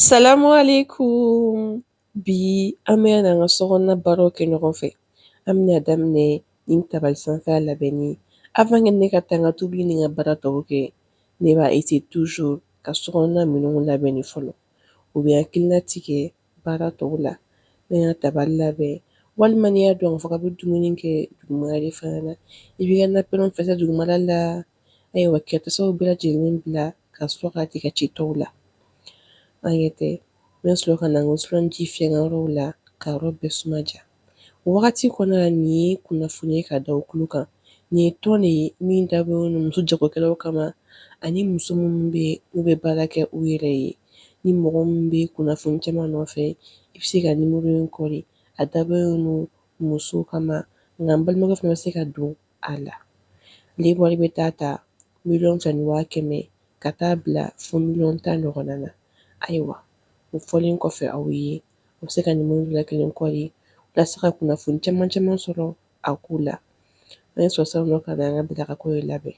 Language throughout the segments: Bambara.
Salamu aleykum bi an bɛna an ka sokɔnɔna baaraw kɛ ɲɔgɔn fɛ an bɛna daminɛ ni tabali sanfɛ labɛnni avant ne ka taa n ka tobili ni n ka baara tɔw kɛ ne b'a eseye toujours ka sokɔnɔna minɛnw labɛn ni fɔlɔ o bɛ n hakilina tigɛ baara tɔw la n ka tabali labɛn walima n'i y'a dɔn k'a fɔ k'a bɛ dumuni kɛ duguma fana na i b'i ka nappe fɛnsɛ dugumala la ayiwa ka tasaw bɛɛ lajɛlen bila ka sɔrɔ ka tigɛ ci tɔw la aw ɲɛ tɛ n bɛ sɔrɔ ka na ji fiyɛ n ka yɔrɔw la ka yɔrɔ bɛɛ suma ja o wagati kɔnɔna na nin ye kunnafoni ye ka da kulu kan nin ye tɔn de ye min dabɔlen don muso jagokɛlaw kama ani muso minnu bɛ u bɛ baara kɛ u yɛrɛ ye ni mɔgɔ min bɛ kunnafoni caman nɔfɛ i bɛ se ka nimɔrɔ in kɔri a dabɔlen don muso kama nka balimakɛ fana bɛ se ka don a la. Ale wari bɛ taa ta miliyɔn fila ni waa kɛmɛ ka taa bila fo miliyɔn tan ɲɔgɔnna na. Ayiwa, o fɔlen kɔfɛ aw ye, aw bɛ se ka nimɔrɔw la kelen kɔri walasa ka kunnafoni caman caman sɔrɔ a ko la. An ye sɔrɔ sisan nɔ ka na an ka bila ka ko ye labɛn.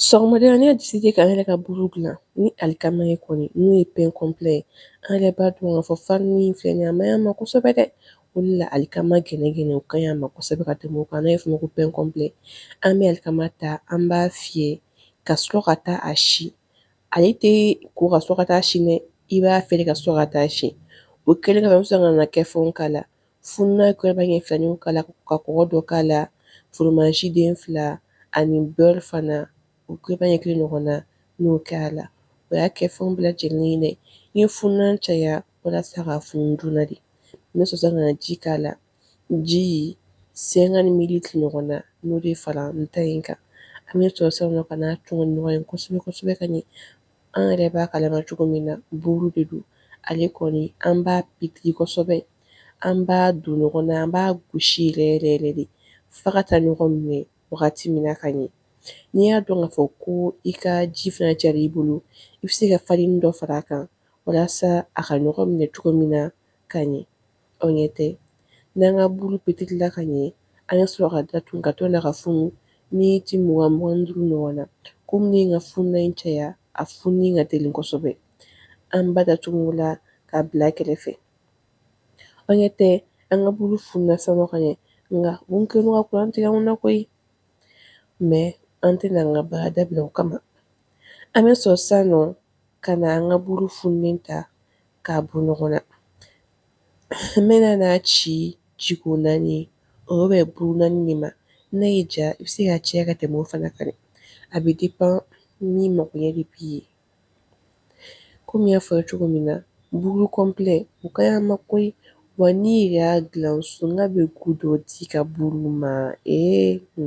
Sɔgɔmada ne y'a deside k'an yɛrɛ ka buru dilan ni alikama ye kɔni n'o ye pɛn kɔnplɛ ye an yɛrɛ b'a dɔn k'a fɔ farini in filɛ nin ye a man ɲi an ma kosɛbɛ dɛ o de la alikama gɛnɛgɛnɛ o ka ɲi an ma kosɛbɛ ka tɛmɛ o kan n'a bɛ f'o ma ko pɛn kɔnplɛ an bɛ alikama ta an b'a fiyɛ ka sɔrɔ ka taa a si ale tɛ ko ka sɔrɔ ka taa si dɛ i b'a fiyɛ ka sɔrɔ ka taa si o kɛlen kɔ an bɛ sɔrɔ ka na kɛfɛnw k'a la Fununan kuyɛriba ɲɛ filanin k'a la ka kɔgɔ dɔ k'a la, foromazi den fila ani beurre fana, o kuyɛriba ɲɛ kelen ɲɔgɔn na, n y'o kɛ a la. O y'a kɛfɛnw bɛɛ lajɛlen ye dɛ. N ye fununan caya walasa k'a funu joona de. N bɛ sɔrɔ ka na ji k'a la, ji 50 mililitres ɲɔgɔn na, n y'o de fara n ta in kan. An bɛ sɔrɔ sisan nɔ ka n'a tɔn ni ɲɔgɔn ye kosɛbɛ kosɛbɛ ka ɲɛ. An yɛrɛ b'a kalama cogo min na, buuru de don. Ale kɔni, an b'a petiri kosɛbɛ. an b'a don ɲɔgɔn na an b'a gosi yɛrɛ yɛrɛ yɛrɛ de f'a ka taa ɲɔgɔn minɛ wagati min na ka ɲɛ n'i y'a dɔn k'a fɔ ko i ka ji fana cayara i bolo i bɛ se ka farini dɔ fara a kan walasa a ka ɲɔgɔn minɛ cogo min na ka ɲɛ aw ɲɛ tɛ n'an ka buru petirila ka ɲɛ an bɛ sɔrɔ k'a datugu k'a to a ka funu miniti mugan mugan duuru ɲɔgɔn na komi ne ye n ka fununan in caya a fununi ka teli kosɛbɛ an b'a datugu o la k'a bila kɛrɛfɛ Aw ɲɛ tɛ an ka buru fununa sisan nɔ ka ɲɛ nka mun kɛlen don ka kuran tigɛ anw na koyi mɛ an tɛna an ka baara dabila o kama an bɛ sɔrɔ sisan nɔ ka na an ka buru funulen ta k'a bɔ ɲɔgɔn na n bɛna n'a ci jiko naani o bɛ bɛn buru naani de ma n'a y'i ja i bɛ se k'a caya ka tɛmɛ o fana kan a bɛ depan i mago ɲɛ de b'i ye Komi n y'a fɔ aw ye cogo min na buru kɔnplɛ o ka ɲi a ma koyi wa n'i yɛrɛ y'a dilan so n'a bɛ gu dɔ di i ka buru ma ee o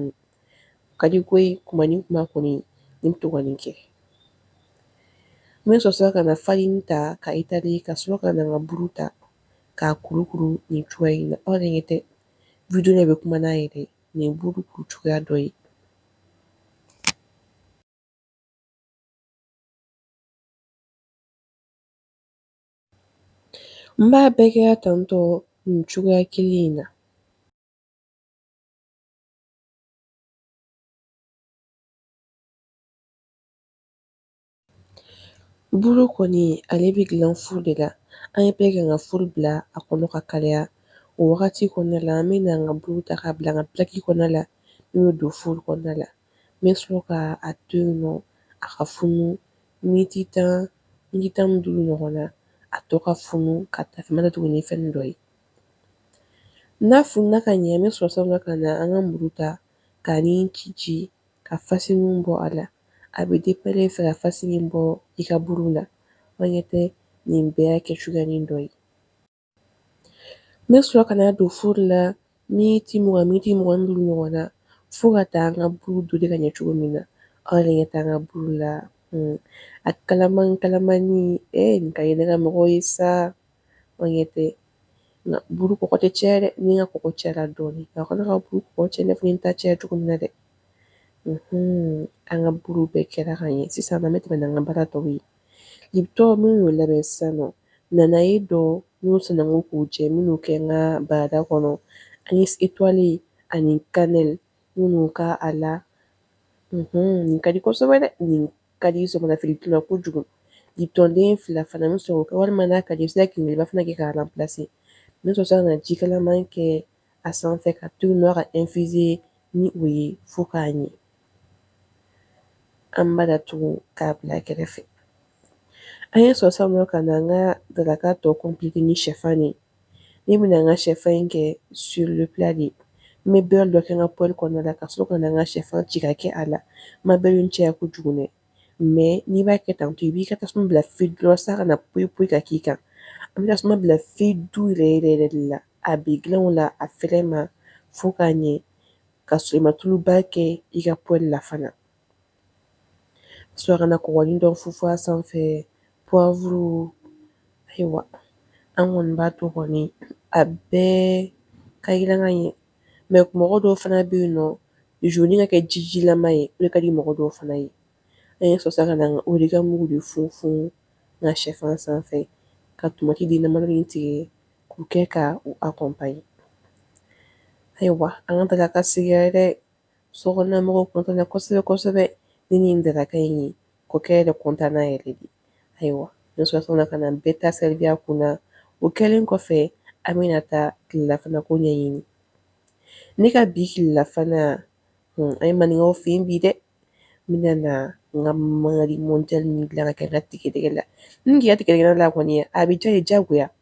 ka di koyi kuma ni kuma kɔni n bɛ to ka nin kɛ n bɛ sɔrɔ ka na farini ta ka étaler ka sɔrɔ ka na n ka buru ta k'a kurukuru nin cogoya in na aw yɛrɛ ɲɛ tɛ video in bɛ kuma n'a yɛrɛ nin ye buru kuru cogoya dɔ ye N b'a bɛɛ kɛ tantɔ nin cogoya kelen in na buru kɔni ale bɛ dilan furu de la an ye bɛɛ kɛ ka furu bila a kɔnɔ ka kalaya o wagati kɔnɔna la an bɛ na an ka buru ta k'a bila an ka pilaki kɔnɔna la n'o bɛ don furu kɔnɔna la n bɛ sɔrɔ ka a to yen nɔ a ka funu miniti tan miniti tan ni duuru ɲɔgɔn na a to ka funu ka tasuma datugu ni fɛn dɔ ye n'a fununa ka ɲɛ n bɛ sɔrɔ sisan ka na an ka muru ta ka nin ci ci ka fasini bɔ a la a bɛ depan e fɛ ka fasini bɔ i ka buru la aw ɲɛ tɛ nin bɛɛ y'a kɛ cogoyanin dɔ ye N bɛ sɔrɔ ka n'a don furu la miniti mugan miniti mugan ni duuru ɲɔgɔn na fo ka taa an ka buru dore ka ɲɛ cogo min na aw yɛrɛ ɲɛ tɛ an ka buru la hmm. a kalaman kalamani e eh, nin ka di ne ka mɔgɔw ye sa aw ɲɛ tɛ nka buru kɔgɔ tɛ caya dɛ ni n ka kɔgɔ cayara dɔɔnin nka kana i ka buru kɔgɔ caya i n'a fɔ n ta caya cogo min na dɛ hmm. an ka buru bɛɛ kɛra ka ɲɛ sisan an bɛ tɛmɛ n'an ka baara tɔw ye Lipton min y'o labɛn sisan nɔ nanaye dɔ n'o sananko k'o jɛ n bɛn'o kɛ n ka barada kɔnɔ ani etoile ani cannelle n bɛn'o k'a la nin ka di kosɛbɛ dɛ nin ka di sɔgɔmada fɛ la kojugu Lipton den fila fana n bɛ sɔrɔ walima n'a ka di i bɛ se ka kinkeliba fana kɛ k'a remplacer n bɛ sɔrɔ sisan ka na jikalaman kɛ a sanfɛ k'a to yen nɔ a ka infuser ni o ye fo k'a ɲɛ an b'a datugu k'a bila kɛrɛfɛ an ye sɔrɔ sisan nɔ ka na an ka daraka tɔ kɔnpilete ni shɛfan ye ne bɛna an ka shɛfan in kɛ sur le plat de n bɛ beurre dɔ kɛ n ka poêle kɔnɔna la ka sɔrɔ ka na n ka shɛfan ci ka kɛ a la n ma beurre in caya kojugu dɛ mɛ n'i b'a kɛ tantɔ i b'i ka tasuma bila feu doux la s'a kana poyi poyi ka k'i kan an bɛ tasuma bila feu doux yɛrɛ yɛrɛ yɛrɛ de la a bɛ dilan o la a fɛrɛ ma fo k'a ɲɛ ka sɔrɔ i ma tuluba kɛ i ka poêle la fana sɔrɔ ka na kɔgɔnin dɔ funfun a sanfɛ poivre ayiwa an kɔni b'a to kɔni a bɛɛ ka jiran ka ɲɛ ɲɛ mɔgɔ dɔw fana bɛ yen nɔ jaune ka kɛ jijilama ye o de ka di mɔgɔ dɔw fana ye an ye sɔrɔ ka na o de ka mugu de funfun n ka shɛfan sanfɛ ka tomati den damadɔnin tigɛ k'u kɛ ka u accompagner ayiwa an ka daraka sigira dɛ Sokɔnɔnamɔgɔw kɔntanna kosɛbɛ kosɛbɛ ni nin daraka in ye kɔkɛ yɛrɛ kɔntanna yɛrɛ de ayiwa ne sɔrɔla ka na bɛɛ ta servi a kunna o kɛlen kɔfɛ an bɛna taa tilelafanako ɲɛɲini ne ka bi tilelafana hmm, an ye maninkaw fɛ yen bi dɛ n bɛna na n ka mangari mondial min dilan ka kɛ n ka tigɛdɛgɛ la ni k'i ka tigɛdɛgɛ la kɔni a bɛ diya i ye diyagoya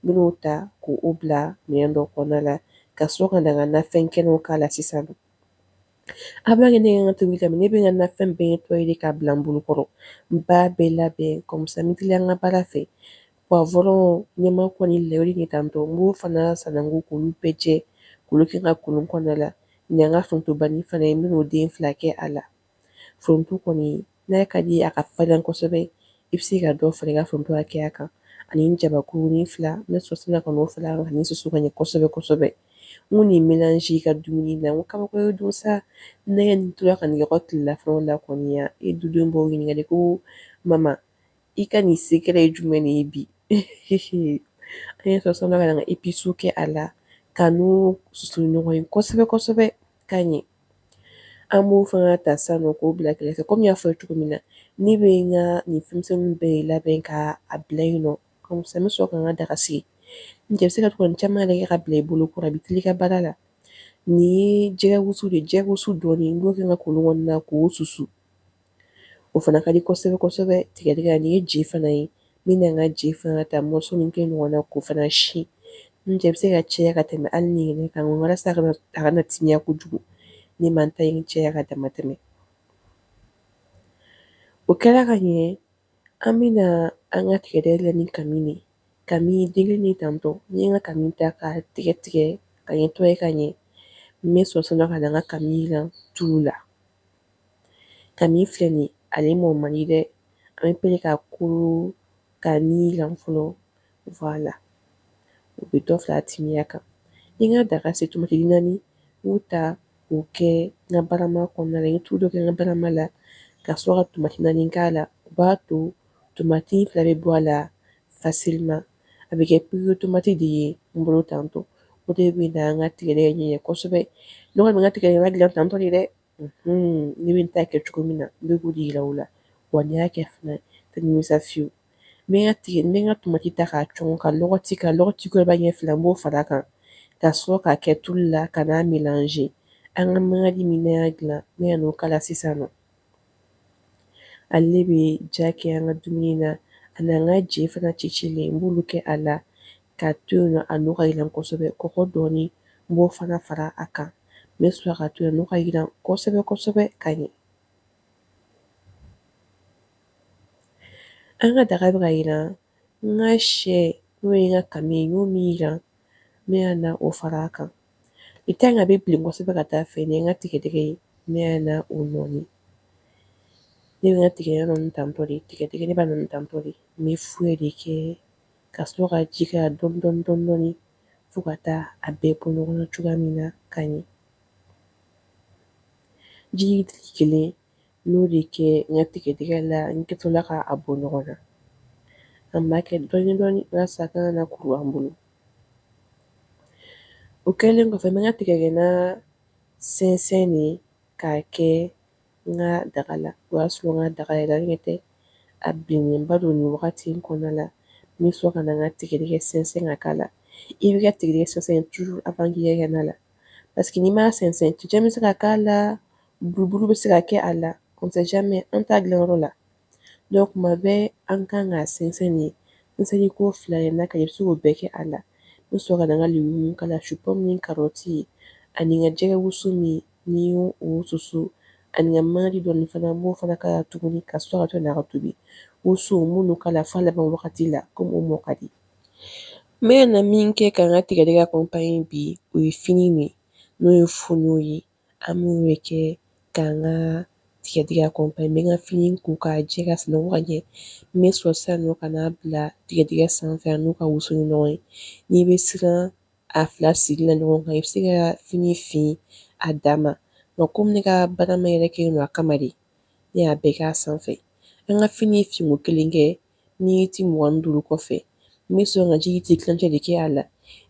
n bɛn'o ta k'o bila minɛn dɔ kɔnɔna la ka sɔrɔ ka na n ka nafɛn kɛnɛw k'a la sisan avant que ne ka tobili daminɛ ne bɛ n ka nafɛn bɛɛ nettoyer k'a bila n bolo kɔrɔ n b'a bɛɛ labɛn comme ça n bɛ teliya n ka baara fɛ poivron ɲamaku ni laurier tantɔ n b'o fana sananko k'olu bɛɛ jɛ k'olu kɛ n ka kolon kɔnɔna la n ka forontobanin fana ye n bɛn'o den fila kɛ a la foronto kɔni n'a ka di i ye a ka farin kosɛbɛ i bɛ se ka dɔ fara i ka foronto hakɛya kan ani jabakurunin fila n bɛ sɔrɔ ka n'o fara a kan ka nin susu ka ɲɛ kosɛbɛ kosɛbɛ n ko nin mélange i ka dumuni na n ko kabako ye don sa ne nin tora ka nɛgɛ tilelafanaw la kɔni ya e dudenw b'o ɲininkali ko mama i ka nin secret ye jumɛn de ye bi an ye sɔrɔ ka na n ka episiw kɛ a la ka n'o susu ɲɔgɔn ye kosɛbɛ kosɛbɛ ka ɲɛ An b'o fana ta sisan nɔ k'o bila kɛrɛfɛ kɔmi n y'a fɔ aw ye cogo min na ne bɛ n ka nin fɛnmisɛnw bɛɛ labɛn ka a bila yen nɔ comme ça n bɛ sɔrɔ ka n ka daga sigi n cɛ i bɛ se ka to ka nin caman yɛrɛ kɛ ka bila i bolo kɔrɔ a b'i teliya i ka baara la nin ye jɛgɛ wusu de ye jɛgɛ wusu dɔɔnin n b'o kɛ n ka kolon kɔnɔna na k'o susu o fana ka di kosɛbɛ kosɛbɛ tigɛdɛgɛ na nin ye je fana ye n bɛna n ka je fana ta morceau min kelen ɲɔgɔn na k'o fana si n cɛ bɛ se ka caya ka tɛmɛ hali nin yɛrɛ kan walasa a kana timiya kojugu ne ma n ta in caya ka damatɛmɛ o kɛra ka ɲɛ An bɛna an ka tigɛ la ni ka ka denkɛ ni tantɔ n ye ka ka ta ka tigɛ tigɛ ka ɲɛ to ka ɲɛ n bɛ sɔsɔ ka ka la tu la ka filɛ nin ale mɔ man dɛ an bɛ p ka ko ka ni fɔlɔ Voilà. O bɛ dɔ fara a timiya kan. N ye n ka daga sigi tomati den naani n y'u ta k'u kɛ n ka barama kɔnɔna la, n ye tulu dɔ kɛ n ka barama la ka sɔrɔ ka tomati naani k'a la, o b'a to tomati fara bɛ bɔ a la facilement a bɛ kɛ purée tomati de ye n bolo tantɔ, o de bɛna n ka tigɛdɛgɛ ɲɛ kosɛbɛ, ne kɔni bɛ n ka tigɛdɛgɛ dilan tantɔ de dɛ. ne bɛ n ta kɛ cogo min na n bɛ k'o de jira aw la wa n'i y'a kɛ fana tɛ nimisa fiyewu n bɛ n ka tomati ta k'a cɔnkɔ ka lɔgɔti kuyɛriba ɲɛ fila n b'o fara a kan ka sɔrɔ k'a kɛ tulu la ka n'a mélanger an ka mankandi min an y'a dilan n bɛ n'o k'a la sisan na ale bɛ ja kɛ an ka dumuni na ani an ka je fana cicilen n b'olu kɛ a la k'a to yen nɔ a n'o ka jiran kosɛbɛ kɔgɔ dɔɔnin n b'o fana fara a kan n bɛ sɔrɔ k'a to yan n'u ka jiran kosɛbɛ kosɛbɛ ka ɲɛ an ka daga bɛ ka jiran n ka syɛ n'o ye n ka kami ye n y'o min jiran n bɛ na o fara a kan i ka ka bɛ bilen kosɛbɛ ka taa a fɛ nin ye n ka tigɛdɛgɛ ye n bɛ na o nɔɔni ne bɛ n ka tigɛdɛgɛ nɔɔni tantɔ de tigɛdɛgɛ ne b'a nɔɔni tantɔ de n bɛ fouet de kɛ ka sɔrɔ ka ji k'a la dɔɔni dɔɔni dɔɔni dɔɔni fo ka taa a bɛɛ bɔ ɲɔgɔn na cogoya min na ka ɲɛ. Ji litiri kelen n y'o de kɛ n ka tigɛdɛgɛ la, n kɛtɔla ka a bɔ ɲɔgɔn na. An b'a kɛ dɔɔni dɔɔni walasa a kana na kuru an bolo. O kɛlen kɔfɛ n bɛ n ka tigɛdɛgɛna sɛnsɛn de k'a kɛ n ka daga la o y'a sɔrɔ n ka daga yɛrɛ ɲɛ tɛ a bilenba don nin wagati in kɔnɔna la n bɛ sɔrɔ ka na n ka tigɛdɛgɛ sɛnsɛn ka k'a la i b'i ka tigɛdɛgɛ sɛnsɛn toujours avant k'i kɛ na la parce que n'i m'a sɛnsɛn cɛncɛn bɛ se ka k'a la buruburu bɛ se ka kɛ a la on sait jamais an t'a dilanyɔrɔ la donc tuma bɛɛ an kan k'a sɛnsɛn de sɛnsɛnni ko fila ye n'a ka ɲi i bɛ se k'o bɛɛ kɛ a la n bɛ sɔrɔ ka na n ka légumes k'a la supɔmu ni karɔti ani n ka jɛgɛ wusu min n y'o susu ani n ka maji dɔɔnin fana n b'o fana k'a la tuguni ka sɔrɔ k'a to a ka tobi woso n b'olu k'a la f'a laban wagati la komi o mɔ ka di n bɛ na min kɛ ka n ka tigɛdɛgɛ accompagner bi o ye fini ye n'o ye fonio ye An b'o de kɛ k'an ka tigɛdɛgɛ accompagner n bɛ n ka fini ko k'a jɛ k'a sananko ka ɲɛ, n bɛ sɔrɔ sisan nɔ ka n'a bila tigɛdɛgɛ sanfɛ a n'o ka wusu ni ɲɔgɔn ye, n'i bɛ siran a fila sigili la ɲɔgɔn kan i bɛ se ka fini fin a dan ma, nka komi ne ka barama yɛrɛ kɛlen don a kama de, ne y'a bɛɛ kɛ a sanfɛ, an ka fini finko kelen kɛ miniti mugan ni duuru kɔfɛ n bɛ sɔrɔ ka ji litiri tilancɛ de kɛ a la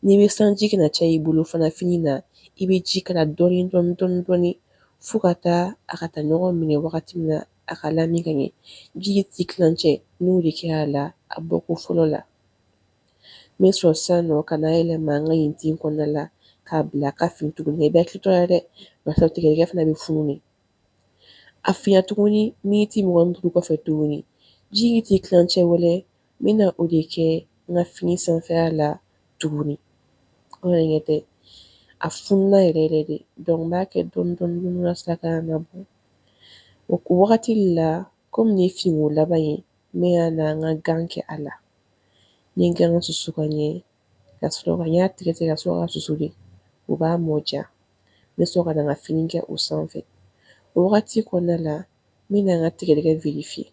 n'i bɛ siran ji kana caya i bolo fana fini na i bɛ ji k'a la dɔɔni dɔɔni dɔɔni dɔɔni fo ka taa a ka taa ɲɔgɔn minɛ wagati min na a ka lami ka ɲɛ ji litiri tilancɛ n y'o de kɛ a la a bɔko fɔlɔ la n bɛ sɔrɔ sisan nɔ ka n'a yɛlɛma n ka ɲintin kɔnɔna la k'a bila a ka fin tuguni i bɛ hakili to a la dɛ barisa tigɛdɛgɛ fana bɛ funu de A finna tuguni miniti mugan ni duuru kɔfɛ tuguni ji litiri tilancɛ wɛrɛ n bɛna o de kɛ n ka fini sanfɛla la tuguni aw ɲɛ tɛ a fununa yɛrɛ yɛrɛ de donc n b'a kɛ dɔɔni dɔɔni walasa a kana na bɔ o wagati la kɔmi nin ye finko laban ye n bɛ na n ka gan kɛ a la n ye gan susu ka ɲɛ ka sɔrɔ ka n y'a tigɛ tigɛ ka sɔrɔ k'a susu de o b'a mɔ diya n bɛ sɔrɔ ka na n ka fini kɛ o sanfɛ o wagati kɔnɔna la n bɛna n ka tigɛdɛgɛ virifiye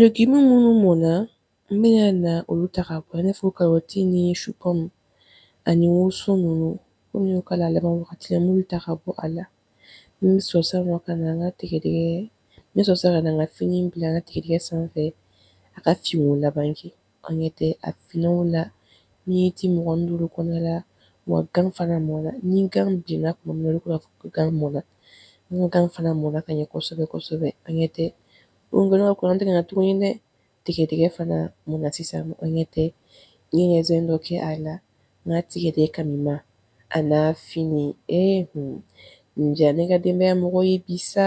legume minnu mɔna n bɛna na olu ta ka bɔ i n'a fɔ karɔti ni supɔmu ani woso ninnu komi n y'o k'a la laban wagati la n b'olu ta ka bɔ a la n bɛ sɔrɔ sisan nɔ ka na n ka tigɛdɛgɛ n bɛ sɔrɔ sisan ka na n ka fini bila n ka tigɛdɛgɛ sanfɛ a ka finko laban kɛ Aw ɲɛ tɛ a finna o la miniti mugan ni duuru kɔnɔna la wa gan fana mɔna. Ni gan bilenna tuma min na olu tun b'a fɔ ko gan mɔna. N ka gan fana mɔna ka ɲɛ kosɛbɛ kosɛbɛ. Aw ɲɛ tɛ o nkɔnɔ kuran tigɛna tuguni dɛ! Tigɛdɛgɛ fana mɔna sisan. Aw ɲɛ tɛ n ye ɲɛzɛn dɔ kɛ a la n ka tigɛdɛgɛ kamima a n'a fini. Ee hun! Nin diyara ne ka denbaya mɔgɔw ye bi sa!